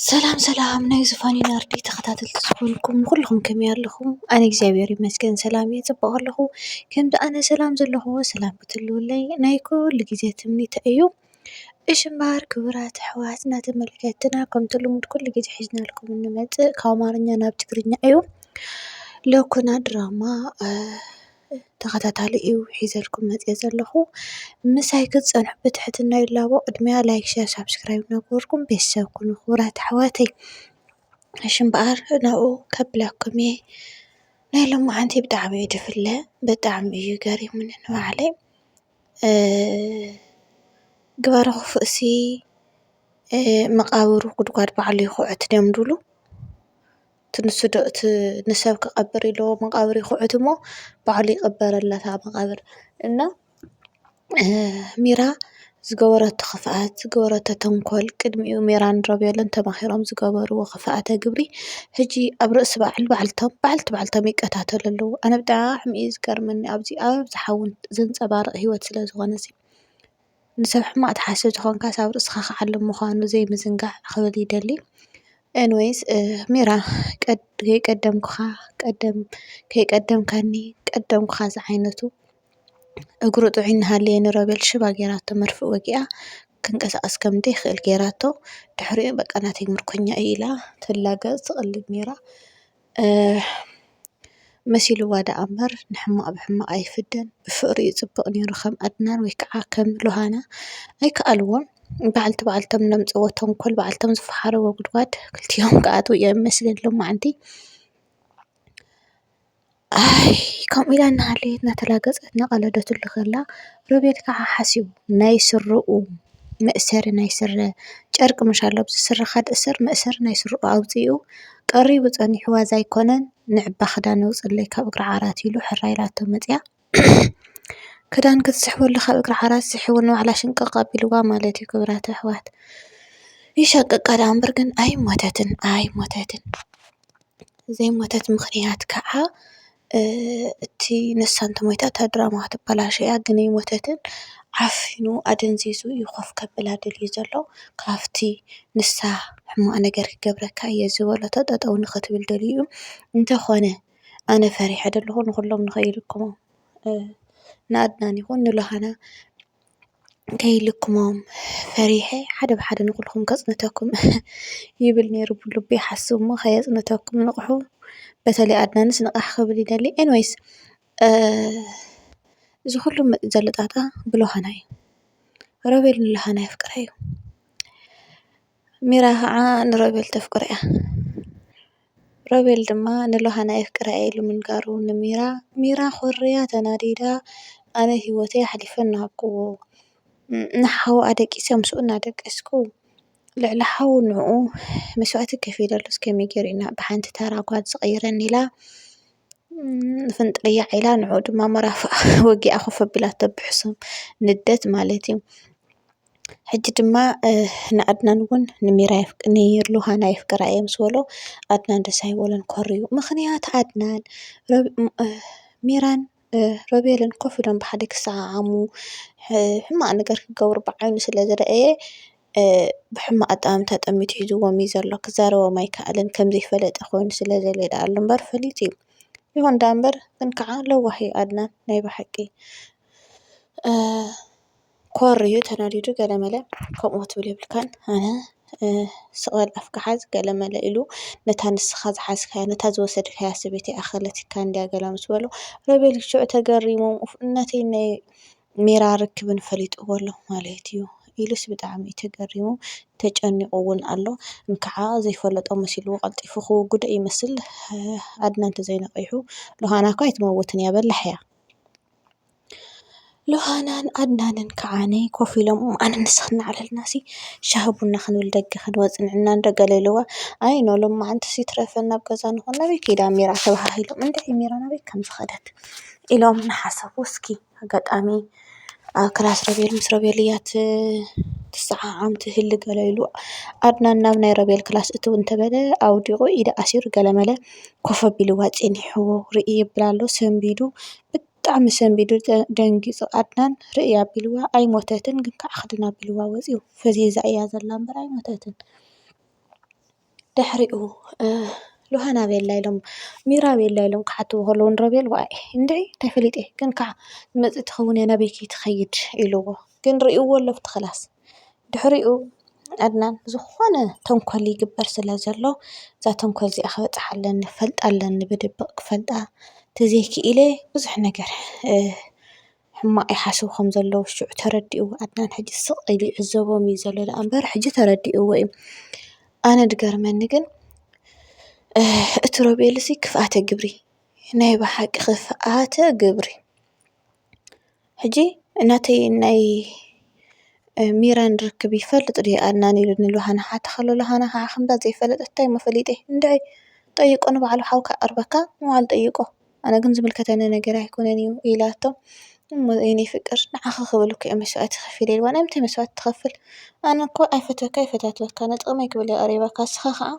ሰላም ሰላም ናይ ዝፋኒ ናርዲ ተኸታተልቲ ዝኾንኩም ኩልኹም ከመይ ኣለኹም? ኣነ እግዚኣብሔር ይመስገን ሰላም እየ ፅቡቕ ኣለኹ። ከምዚ ኣነ ሰላም ዘለኹዎ ሰላም ክትህልወለይ ናይ ኩሉ ግዜ ትምኒተይ እዩ። እሺ እምበኣር ክቡራት ኣሕዋትና ተመልከትና ከምቲ ልሙድ ኩሉ ግዜ ሒዝናልኩም እንመጽእ ካብ ኣማርኛ ናብ ትግርኛ እዩ። ሎኩና ድራማ ተኸታታሊ እዩ ሒዘልኩም መጺአ ዘለኹ። ምሳይ ክትጸንሑ ብትሕትና ይላቦ። ቅድሚያ ላይክ፣ ሸር፣ ሳብስክራይብ እናገበርኩም ቤተሰብ ኩኑ ክቡራት ኣሕዋተይ። እሺ እምበኣር ናብኡ ከብለኩም እየ። ናይ ሎምዓንቲ ብጣዕሚ እዩ ድፍለ ብጣዕሚ እዩ ገሪሙኒ ንባዕለይ። ግበረ ኽፉእሲ መቓብሩ ጉድጓድ ባዕሉ ይኹዕት ድዮም ድብሉ እቲ ንሱ ዶ እቲ ንሰብ ክቐብር ኢሉ መቓብር ይኹዕት እሞ ባዕሉ ይቕበረላ እታ መቓብር እና ሚራ ዝገበረቶ ኽፍኣት ዝገበረቶ ተንኮል ቅድሚኡ ሚራን ሮቤልን ተማኺሮም ዝገበርዎ ኽፍኣተ ግብሪ ሕጂ ኣብ ርእሲ ባዕሉ ባዕልቶም ባዕልቲ ባዕልቶም ይቀታተሉ ኣለዉ ኣነ ብጣዕሚ እዩ ዝገርመኒ ኣብዚ ኣብዚ ሓዉን ዘንጸባርቕ ሂወት ስለ ዝኾነ'ሲ ንሰብ ሕማቕ ትሓስብ ተኾንካ ኣብ ርእስኻ ክዓልብ ምዃኑ ዘይምዝንጋዕ ክብል ይደሊ። ኤኒወይስ ሚራ ከይቀደምኩኻ ከይቀደምካኒ ቀደምኩኻ ዝዓይነቱ እግሩ ጥዑይ እናሃለየ ንሮቤል ሽባ ጌራቶ መርፍእ ወጊኣ ክንቀሳቐስ ከም ዘይክእል ጌራቶ ድሕሪኡ በቃ ናተይ ምርኮኛ እዩ ኢላ ትላገጽ ትቕልድ ኔራ። መሲልዋ ደኣ እምበር ንሕማቕ ብሕማቕ ኣይፍደን ብፍቕሪ እዩ ፅብቕ ነይሩ ከም ኣድናን ወይ ከዓ ከም ሎሃና ኣይከኣልዎን በዓልቲ በዓልቶም ዘምፅእዎ ተንኮል በዓልቶም ዝፈሓርዎ ጉድጓድ ክልቲኦም ክኣትዉ እዮም መስሊ ሎማዓንቲ ኣይ ከምኡ ኢላ እናሃለየት እናተላገፀት እናቐለደትሉ ከላ ሮቤል ከዓ ሓሲቡ ናይ ስረኡ መእሰሪ ናይ ስረ ጨርቂ ምሽ ኣሎ ኣብዚ ስረ ካድ እሰር መእሰሪ ናይ ስርኡ ኣውጺኡ ቀሪቡ ጸኒሑ ዋዛ ኣይኮነን ንዕባ ክዳን የውጽኣለይ ካብ እግሪ ዓራት ኢሉ ሕራይ ኢላቶ መጺኣ ክዳን ክትስሕበሉ ካብ እግሪ ዓራት ስሒቡ ንባዕላ ሽንቅቅ ኣቢልዋ ማለት እዩ ክብራት ኣሕዋት ይሻቅቃ ድኣምበር ግን ኣይሞተትን ኣይሞተትን ዘይሞተት ምኽንያት ከዓ እቲ ንሳ እንተሞይታ እታ ድራማ ክትበላሾ እያ ግን ኣይሞተትን ዓፊኑ ኣደንዚዙ እዩ ኮፍ ከብላ ደልዩ ዘሎ ካብቲ ንሳ ሕማቅ ነገር ክገብረካ እየ ዝበለቶ ጠጠው ንክትብል ደልዩ እዩ እንተኮነ ኣነ ፈሪሐ ደለኩ ንኩሎም ንከይልክሙ ንኣድናን ይኩን ንሎሃና። ከይልክሞም ፈሪሐ ሓደ ብሓደ ንኹልኹም ከፅንተኩም ይብል ነይሩ ብልቡ ይሓስብ እሞ ከየፅንተኩም ንቕሑ በተለይ ኣድናንስ ንቕሕ ክብል ይደሊ ኤኒዌይስ እዚ ኹሉ መፂኡ ዘሎ ጣጣ ብሎኻና እዩ ሮቤል ንሎኻና የፍቅራ እዩ። ሚራ ኸዓ ንሮቤል ተፍቅሮ እያ። ሮቤል ድማ ንሎሃና የፍቅራ እየ ኢሉ ምንጋሩ ንሚራ ሚራ ኾርያ ተናዲዳ ኣነ ሂወተይ ኣሕሊፈ እናሃብክዎ ንሓዉ ኣደቂሰ ምስኡ እናደቀስኩ ልዕሊ ሓዉ ንዕኡ መስዋእቲ ከፊለሉስ ከመይ ጌሩ እዩ ብሓንቲ ተራ ጓል ዝቅየረኒ ኢላ ፍንጥርያ ዒላ ንዕኡ ድማ መራፍእ ወጊኣ ኮፍ ኣቢላቶ ብሕሱም ንዴት ማለት እዩ። ሕጂ ድማ ንኣድናን እውን ንሩሃና የፍቅራ እየ ምስ በሎ ኣድናን ደስ ኣይበሎን ኮርዩ። ምኽንያት ኣድናን ሚራን ሮቤልን ኮፍ ኢሎም ብሓደ ክሰዓዓሙ ሕማቕ ነገር ክገብሩ ብዓይኑ ስለ ዝረኣየ ብሕማቕ ኣጠማምታ ጠሚቱ ሒዝዎም እዩ ዘሎ። ክዛረቦም ኣይክኣለን ከም ዘይፈለጠ ኮይኑ ስለ ዘሎ እዩ ደኣሉ እምበር ፈሊጡ እዩ። ይኹን ደኣምበር ግን ከዓ ለዋህ እዩ ኣድናን ናይ ብሓቂ። ኮር እዩ ተናዲዱ ገለመለ ከምኡ ክትብል የብልካን ኣነ ስቕ በል ኣፍካ ሓዝ ገለመለ ኢሉ ነታ ንስኻ ዝሓዝካያ ነታ ዝወሰድካያ ሰበይቲ ኣኸለትካ እንድያ ገለ ምስ በሎ ሮቤል ሽዑ ተገሪሙ ነቲ ናይ ሜራ ርክብን ፈሊጥዎ ኣሎ ማለት እዩ ኢሉስ ብጣዕሚ እዩ ተገሪሙ ተጨኒቑ እውን ኣሎ እንካዓ ዘይፈለጦ መሲልዎ ቀልጢፉ ክውግዶ ይመስል ኣድና እንተዘይነቒሑ ሎሃና እኳ ኣይትመውትን እያ በላሕ እያ ሎሃናን ኣድናንን ከዓ ኮፍ ኢሎም ኣነ ንስኪ እናዕለልና ሲ ሻሂ ቡና ክንብል ደገ ክንወፅእ ንሕና እንዶ ገለ ኢልዋ ኣይ ን ሎማዓንቲ ይትረፈና ኣብ ገዛ ንኩን ናበይ ከይዳ ሚራ ተባሃሂሎም እንድዒ ሚራ ናበይ ከም ዝከደት ኢሎም እናሓሰቡ እስኪ ኣጋጣሚ ኣብ ክላስ ሮቤል ምስ ሮቤል እያ ትሰዓዓም ትህሊ ገለ ኢሉ ኣድናን ናብ ናይ ሮቤል ክላስ እትው እንተበለ ኣውዲቁ ኢዱ ኣሲሩ ገለመለ ኮፍ ኣቢልዋ ፀኒሕዎ ርእይ የብል ኣሎ ሰንቢዱ። ብጣዕሚ ሰንቢዱ ደንጊፁ ኣድናን ርእይ ኣቢልዋ ኣይሞተትን ግን ከዓ ክድን ኣቢልዋ ወፅዩ ፈዚዛ እያ ዘላ እምበር ኣይሞተትን። ድሕሪኡ ሉሃን ኣበይ ኣላ ኢሎም ሚራ ኣበይ ኣላ ኢሎም ክሓትዎ ከለው ንሮቤል ዋይ እንድዒ እንታይ ፈሊጠ ግን ከዓ ትመፅእ ትኸውን እያ ናበይ ከይትኸይድ ኢልዎ ግን ሪእዎ ኣሎ ኣብቲ ክላስ። ድሕሪኡ ኣድናን ዝኾነ ተንኮል ይግበር ስለ ዘሎ እዛ ተንኮል እዚኣ ክበፅሓ ኣለኒ ክፈልጣ ኣለኒ ብድብቕ ክፈልጣ ተዘይኪኢለ ብዙሕ ነገር ሕማቕ ይሓስቡ ከም ዘለዉ ሽዑ ተረዲኡ ኣድናን ሕጂ ስቕ ኢሉ ይዕዘቦም እዩ ዘሎ ደኣ እምበር ሕጂ ተረዲኡዎ እዩ፡፡ ኣነ ዝገርመኒ ግን እቲ ሮቤል እዚ ክፍኣተ ግብሪ ናይ ብሓቂ ክፍኣተ ግብሪ፡፡ ሕጂ ናተይ ናይ ሚራን ርክብ ይፈልጥ ድዩ ኣድናን ኢሉ ንሎሃና ክሓታ ከሎ ሎሃና ካዓ ከምዛ ዘይፈለጠት እንታይ እሞ ፈሊጠይ እንድዒ ጠይቆ ንባዕሉ ሓውካ ክቀርበካ ንባዕሉ ጠይቆ ኣነ ግን ዝምልከተኒ ነገር ኣይኮነን እዩ ኢላቶ እሞ የኔ ፍቅር ንዓኺ ክብል እኮ እየ መስዋእቲ ከፊለ ኢልዋ ናይ ምንታይ መስዋእቲ ትኸፍል ኣነ እኮ ኣይፈትወካ ኣይፈታትወካ ንጥቅመይ ክብል እየ ቀሪበካ ንስኻ ካዓ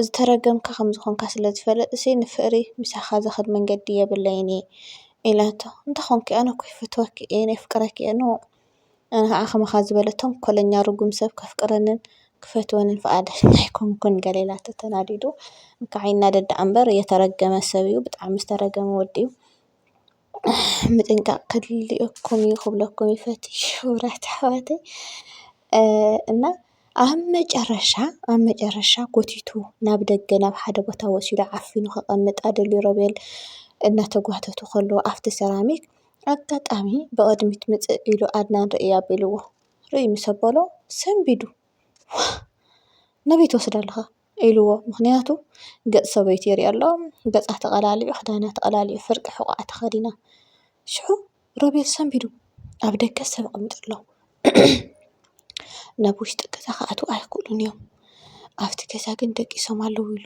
ዝተረገምካ ኸም ዝኾንካ ስለ ዝፈለጥሲ ንፍቕሪ ምሳኻ ዘኽድ መንገዲ የብለይን እየ ኢላቶ። እንተኾንኪ ኣነ እኮ ይፈትወኪ እየ የፍቅረኪ እየ ን ኣነ ኸዓ ኸማኻ ዝበለ ተንኮለኛ ርጉም ሰብ ከፍቅረንን ክፈትወንን ፍቓደኛ ኣይኮንኩን ገለ ኢላቶ ተናዲዱ እንካዕ ይናደድ ደኣ እምበር የተረገመ ሰብ እዩ ብጣዕሚ ዝተረገመ ወዲ እዩ። ምጥንቃቕ ከድልየኩም እዩ ክብለኩም ይፈቱ ክቡራት ኣሕዋተይ እና ኣብ መጨረሻ ኣብ መጨረሻ ጎቲቱ ናብ ደገ ናብ ሓደ ቦታ ወሲዱ ዓፊኑ ከቐምጣ ደልዩ ሮቤል እናተጓተቱ ከለዉ ኣብቲ ሰራሚክ ኣጋጣሚ ብቕድሚት ምፅእ ኢሉ ኣድናን ርእይ ኣቢልዎ። ርእይ ምስ ኣበሎ ሰንቢዱ። ዋእ! ናበይ ትወስዶ ኣለኻ? ኢልዎ ምኽንያቱ ገጽ ሰበይቲ ይሪኢ ኣሎ ገጻ ተቀላሊዑ ክዳና ተቀላሊዑ ፍርቂ ሕቆኣ ተኸዲና ሽዑ ሮቤል ሰንቢዱ ኣብ ደገ ሰብ ይቅመጥ ኣሎ ናብ ውሽጢ ገዛ ክኣትው ኣይኽእሉን እዮም ኣብቲ ገዛ ግን ደቂሶም ኣለዉ ኢሉ።